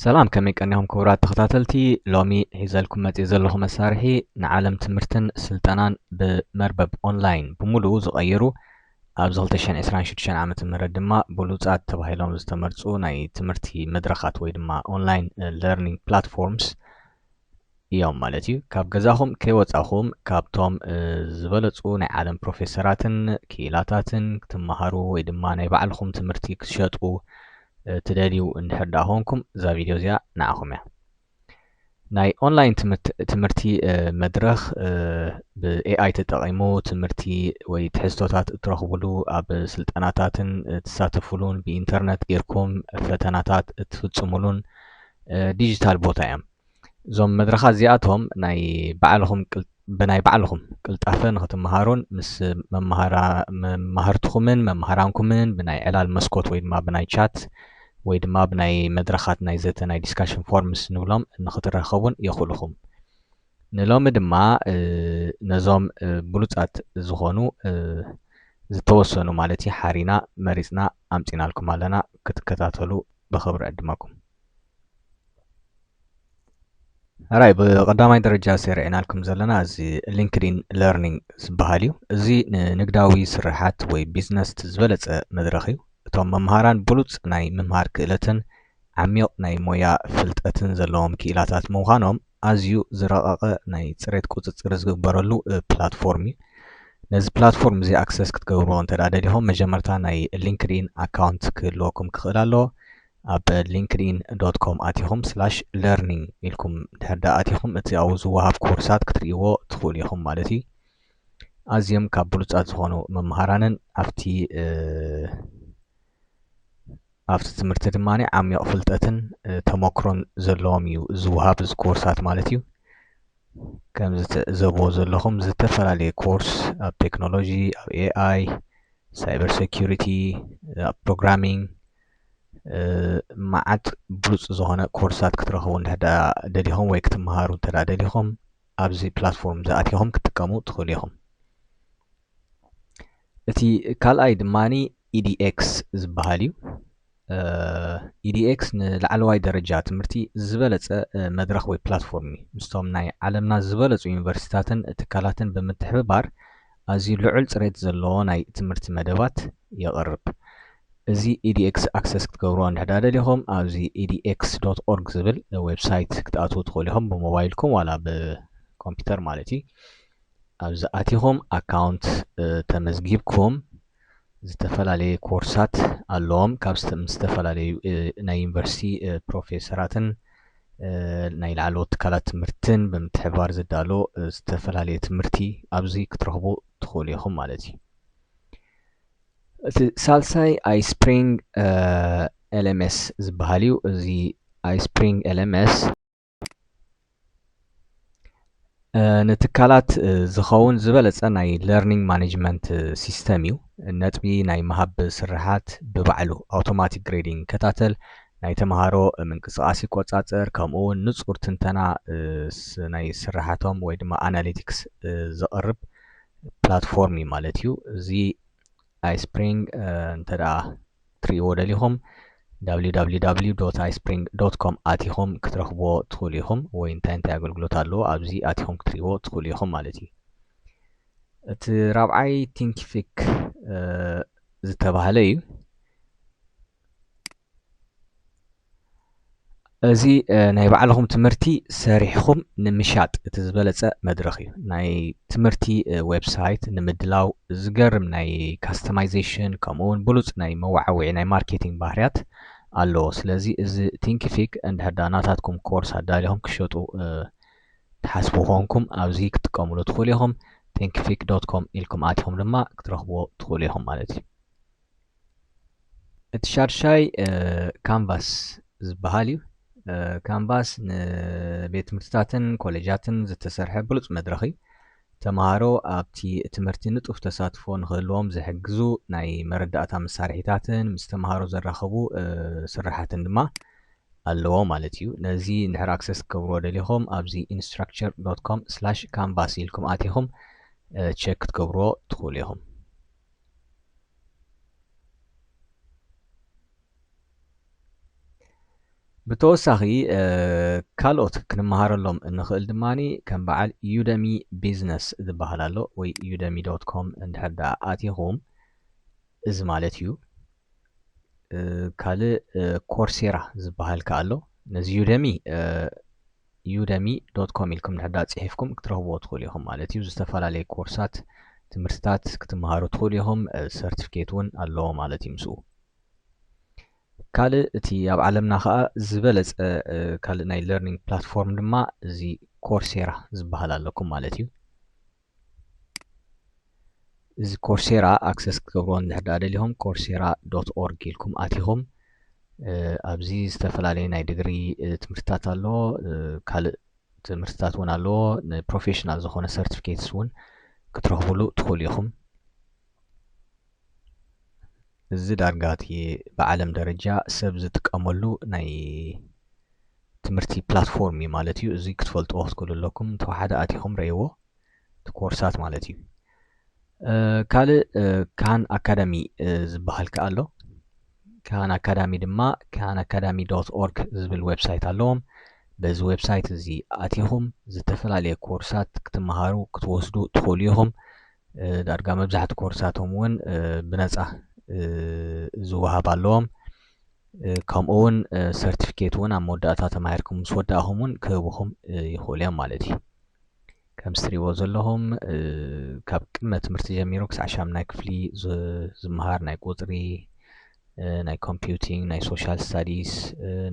ሰላም ከመይ ቀኒኹም ክቡራት ተኸታተልቲ ሎሚ ሒዘልኩም መፅእ ዘለኹ መሳርሒ ንዓለም ትምህርትን ስልጠናን ብመርበብ ኦንላይን ብምሉኡ ዝቐየሩ ኣብዚ 226 ዓ ም ድማ ብሉፃት ተባሂሎም ዝተመርፁ ናይ ትምህርቲ መድረኻት ወይ ድማ ኦንላይን ለርኒንግ ፕላትፎርምስ እዮም ማለት እዩ። ካብ ገዛኹም ከይወጻኹም ካብቶም ዝበለጹ ናይ ዓለም ፕሮፌሰራትን ክኢላታትን ክትመሃሩ ወይ ድማ ናይ ባዕልኹም ትምህርቲ ክትሸጡ ትደልዩ እንድሕር ደኣ ኮንኩም እዛ ቪድዮ እዚኣ ንዓኹም እያ። ናይ ኦንላይን ትምህርቲ መድረኽ ብኤኣይ ተጠቒሙ ትምህርቲ ወይ ትሕዝቶታት እትረኽብሉ ኣብ ስልጠናታትን እትሳተፍሉን ብኢንተርነት ጌርኩም ፈተናታት እትፍጽሙሉን ዲጂታል ቦታ እዮም እዞም መድረኻት እዚኣቶም ናይ ባዕልኹም ብናይ ባዕልኹም ቅልጣፈ ንክትመሃሩን ምስ መማህርትኹምን መማህራንኩምን ብናይ ዕላል መስኮት ወይ ድማ ብናይ ቻት ወይ ድማ ብናይ መድረኻት ናይ ዘተ ናይ ዲስካሽን ፎርምስ ንብሎም ንክትራኸቡን የኽእልኹም ንሎሚ ድማ ነዞም ብሉፃት ዝኾኑ ዝተወሰኑ ማለት እዩ ሓሪና መሪፅና ኣምፂናልኩም ኣለና ክትከታተሉ ብኽብሪ ዕድመኩም ራይ ብቀዳማይ ደረጃ ሴርዒናልኩም ዘለና እዚ ሊንክድን ለርኒንግ ዝበሃል እዩ እዚ ንንግዳዊ ስርሓት ወይ ቢዝነስ ዝበለፀ መድረኽ እዩ እቶም መምሃራን ብሉፅ ናይ ምምሃር ክእለትን ዓሚቕ ናይ ሞያ ፍልጠትን ዘለዎም ክኢላታት ምዃኖም ኣዝዩ ዝረቐቐ ናይ ፅሬት ቁፅፅር ዝግበረሉ ፕላትፎርም እዩ። ነዚ ፕላትፎርም እዚ ኣክሰስ ክትገብርዎ እንተ ደሊኹም መጀመርታ ናይ ሊንክድኢን ኣካውንት ክህልወኩም ክኽእል ኣለዎ። ኣብ ሊንክድኢን ዶት ኮም ኣቲኹም ስላሽ ለርኒንግ ኢልኩም ድሕር ዳ ኣቲኹም እቲ ኣብኡ ዝወሃብ ኮርሳት ክትርእይዎ ትኽእሉ ኢኹም ማለት እዩ። ኣዝዮም ካብ ብሉፃት ዝኾኑ መምሃራንን ኣብቲ ኣብቲ ትምህርቲ ድማ ዓሚቕ ፍልጠትን ተሞክሮን ዘለዎም እዩ ዝወሃብ እዚ ኮርሳት ማለት እዩ። ከምዚ ትዕዘብዎ ዘለኹም ዝተፈላለየ ኮርስ ኣብ ቴክኖሎጂ፣ ኣብ ኤኣይ፣ ሳይበር ሴኩሪቲ፣ ኣብ ፕሮግራሚንግ መዓት ብሉፅ ዝኾነ ኮርሳት ክትረኽቡ እንድሕር ደኣ ደሊኹም ወይ ክትመሃሩ እንተ ደሊኹም ኣብዚ ፕላትፎርም እዚ ኣቲኹም ክትጥቀሙ ትኽእሉ ኢኹም። እቲ ካልኣይ ድማ EDX ዝበሃል እዩ። EDX ንላዕለዋይ ደረጃ ትምህርቲ ዝበለፀ መድረኽ ወይ ፕላትፎርም እዩ። ምስቶም ናይ ዓለምና ዝበለፁ ዩኒቨርሲቲታትን ትካላትን ብምትሕብባር ኣዝዩ ልዑል ፅሬት ዘለዎ ናይ ትምህርቲ መደባት የቕርብ። እዚ EDX ኣክሰስ ክትገብርዎ እንድሕዳ ደሊኹም ኣብዚ edx.org ዝብል ዌብሳይት ክትኣትዉ ትኽእሉ ኢኹም ብሞባይልኩም ዋላ ብኮምፒውተር ማለት እዩ። ኣብዚ ኣቲኹም ኣካውንት ተመዝጊብኩም ዝተፈላለየ ኮርሳት ኣለዎም ካብ ዝተፈላለዩ ናይ ዩኒቨርሲቲ ፕሮፌሰራትን ናይ ላዕለዎት ትካላት ትምህርትን ብምትሕብባር ዝዳሎ ዝተፈላለየ ትምህርቲ ኣብዚ ክትረኽቡ ትኽእሉ ኢኹም ማለት እዩ እቲ ሳልሳይ ኣይስፕሪንግ ኤልኤምኤስ ዝበሃል እዩ እዚ ኣይስፕሪንግ ኤልኤምኤስ ንትካላት ዝኸውን ዝበለጸ ናይ ለርኒንግ ማኔጅመንት ሲስተም እዩ ነጥቢ ናይ ምሃብ ስርሓት ብባዕሉ ኣውቶማቲክ ግሬዲንግ ይከታተል ናይ ተምሃሮ ምንቅስቓስ ይቆጻጸር ከምኡ እውን ንጹር ትንተና ናይ ስርሓቶም ወይ ድማ ኣናሊቲክስ ዘቕርብ ፕላትፎርም እዩ ማለት እዩ እዚ ኣይስፕሪንግ እንተ ክትርእይዎ ደሊኹም www.ispring.com ኣቲኹም ክትረኽብዎ ትኽእሉ ኢኹም ወይ እንታይ እንታይ ኣገልግሎት ኣለዎ ኣብዚ ኣቲኹም ክትርእይዎ ትኽእሉ ኢኹም ማለት እዩ እቲ ራብዓይ ቲንኪፊክ ዝተባህለ እዩ እዚ ናይ ባዕልኹም ትምህርቲ ሰሪሕኹም ንምሻጥ እቲ ዝበለጸ መድረኽ እዩ። ናይ ትምህርቲ ዌብሳይት ንምድላው ዝገርም ናይ ካስተማይዜሽን ከምኡ እውን ብሉፅ ናይ መወዓውዒ ናይ ማርኬቲንግ ባህርያት ኣለዎ። ስለዚ እዚ ቲንኪፊክ እንድሕር ዳ ናታትኩም ኮርስ ኣዳሊኹም ክሸጡ ትሓስቡ ኮንኩም ኣብዚ ክትጥቀምሉ ትኽእሉ ኢኹም። ቲንኪፊክ ዶት ኮም ኢልኩም ኣቲኹም ድማ ክትረኽብዎ ትኽእሉ ኢኹም ማለት እዩ። እቲ ሻድሻይ ካንቫስ ዝበሃል እዩ። ካንቫስ ንቤት ትምህርትታትን ኮሌጃትን ዝተሰርሐ ብሉፅ መድረኽ እዩ። ተምሃሮ ኣብቲ ትምህርቲ ንጡፍ ተሳትፎ ንክህልዎም ዝሕግዙ ናይ መረዳእታ መሳርሒታትን ምስ ተምሃሮ ዘራኽቡ ስራሓትን ድማ ኣለዎ ማለት እዩ። ነዚ እንድሕር ኣክሰስ ክገብርዎ ደሊኹም ኣብዚ ኢንስትራክቸር ዶት ኮም ስላሽ ካንቫስ ኢልኩም ኣቲኹም ቼክ ክትገብርዎ ትኽእሉ ኢኹም። ብተወሳኺ ካልኦት ክንመሃረሎም እንኽእል ድማ ከም በዓል ዩደሚ ቢዝነስ ዝበሃል ኣሎ ወይ ዩደሚ ዶት ኮም እንድሕር ደኣ ኣቲኹም እዚ ማለት እዩ ካልእ ኮርሴራ ዝበሃል ከ ኣሎ ነዚ ዩደሚ ዩደሚ ዶት ኮም ኢልኩም ድሕዳ ጽሒፍኩም ክትረኽብዎ ትኽእሉ ኢኹም ማለት እዩ ዝተፈላለየ ኮርሳት ትምህርትታት ክትመሃሩ ትኽእሉ ኢኹም ሰርቲፊኬት እውን ኣለዎ ማለት እዩ ምስኡ ካልእ እቲ ኣብ ዓለምና ከዓ ዝበለፀ ካልእ ናይ ለርኒንግ ፕላትፎርም ድማ እዚ ኮርሴራ ዝበሃል ኣለኩም ማለት እዩ እዚ ኮርሴራ ኣክሰስ ክትገብርዎ እንድሕር ደኣ ደሊኹም ኮርሴራ ዶት ኦርግ ኢልኩም ኣቲኹም ኣብዚ ዝተፈላለዩ ናይ ድግሪ ትምህርትታት ኣለዎ ካልእ ትምህርትታት እውን ኣለዎ ንፕሮፌሽናል ዝኾነ ሰርቲፊኬትስ እውን ክትረኽብሉ ትኽእሉ ኢኹም እዚ ዳርጋ እቲ ብዓለም ደረጃ ሰብ ዝጥቀመሉ ናይ ትምህርቲ ፕላትፎርም እዩ ማለት እዩ። እዚ ክትፈልጥዎ ክትክእሉ ኣለኩም ተዋሓደ ኣቲኹም ረእይዎ እቲ ኮርሳት ማለት እዩ። ካልእ ካን ኣካዳሚ ዝበሃል ከዓ ኣሎ። ካን ኣካዳሚ ድማ ካን ኣካዳሚ ዶት ኦርግ ዝብል ዌብሳይት ኣለዎም። በዚ ዌብሳይት እዚ ኣቲኹም ዝተፈላለየ ኮርሳት ክትመሃሩ ክትወስዱ ትኽእሉ ኢኹም። ዳርጋ መብዛሕቲ ኮርሳቶም እውን ብነፃ ዝወሃብ ኣለዎም ከምኡ እውን ሰርቲፊኬት እውን ኣብ መወዳእታ ተማሂርኩም ምስ ወዳእኹም እውን ክህብኹም ይኽእሉ እዮም ማለት እዩ ከምዚ ትሪእዎ ዘለኹም ካብ ቅድመ ትምህርቲ ጀሚሩ ክሳዕ ሻምናይ ክፍሊ ዝመሃር ናይ ቁፅሪ ናይ ኮምፒውቲንግ ናይ ሶሻል ስታዲስ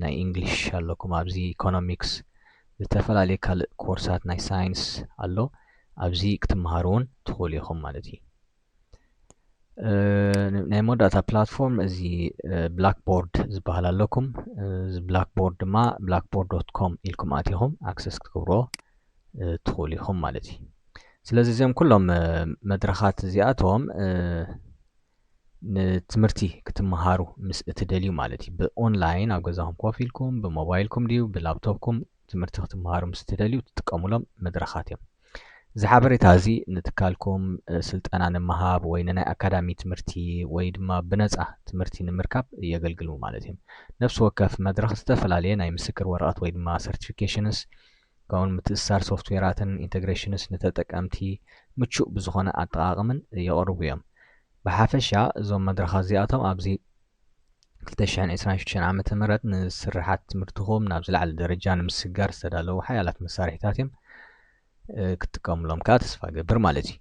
ናይ ኢንግሊሽ ኣለኩም ኣብዚ ኢኮኖሚክስ ዝተፈላለዩ ካልእ ኮርሳት ናይ ሳይንስ ኣሎ ኣብዚ ክትመሃሩ እውን ትኽእሉ ኢኹም ማለት እዩ ናይ መወዳእታ ፕላትፎርም እዚ ብላክቦርድ ዝበሃል ኣለኩም እዚ ብላክቦርድ ድማ ብላክቦርድ ዶት ኮም ኢልኩም ኣትኹም ኣክሰስ ክትገብሮ ትኽእሉ ኢኹም ማለት እዩ ስለዚ እዚኦም ኩሎም መድረኻት እዚኣቶም ንትምህርቲ ክትመሃሩ ምስ እትደልዩ ማለት እዩ ብኦንላይን ኣብ ገዛኹም ኮፍ ኢልኩም ብሞባይልኩም ድዩ ብላፕቶፕኩም ትምህርቲ ክትመሃሩ ምስ እትደልዩ እትጥቀሙሎም መድረኻት እዮም። እዚ ሓበሬታ እዚ ንትካልኩም ስልጠና ንምሃብ ወይ ንናይ ኣካዳሚ ትምህርቲ ወይ ድማ ብነፃ ትምህርቲ ንምርካብ የገልግሉ ማለት እዮም። ነፍሲ ወከፍ መድረኽ ዝተፈላለየ ናይ ምስክር ወረቐት ወይ ድማ ሰርቲፊኬሽንስ ከምኡውን ምትእስሳር ሶፍትዌራትን ኢንተግሬሽንስ ንተጠቀምቲ ምቹእ ብዝኾነ ኣጠቓቕምን የቕርቡ እዮም። ብሓፈሻ እዞም መድረኻት እዚኣቶም ኣብዚ ክልተ ሽሕን ዕስራን ሽዱሽተን ዓመተ ምህረት ንስርሓት ትምህርትኹም ናብ ዝለዓለ ደረጃ ንምስግጋር ዝተዳለዉ ሓያላት መሳርሒታት እዮም ክትጥቀሙሎም ከዓ ተስፋ ገብር ማለት እዩ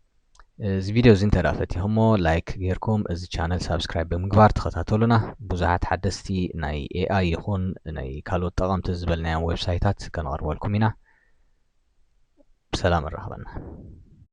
እዚ ቪድዮ እዚ እንተ ፈቲኹሞ ላይክ ጌርኩም እዚ ቻነል ሳብስክራይብ ብምግባር ተኸታተሉና ብዙሓት ሓደስቲ ናይ ኤኣይ ይኹን ናይ ካልኦት ጠቐምቲ ዝበልናዮም ዌብሳይታት ከነቕርበልኩም ኢና ብሰላም እራኸበና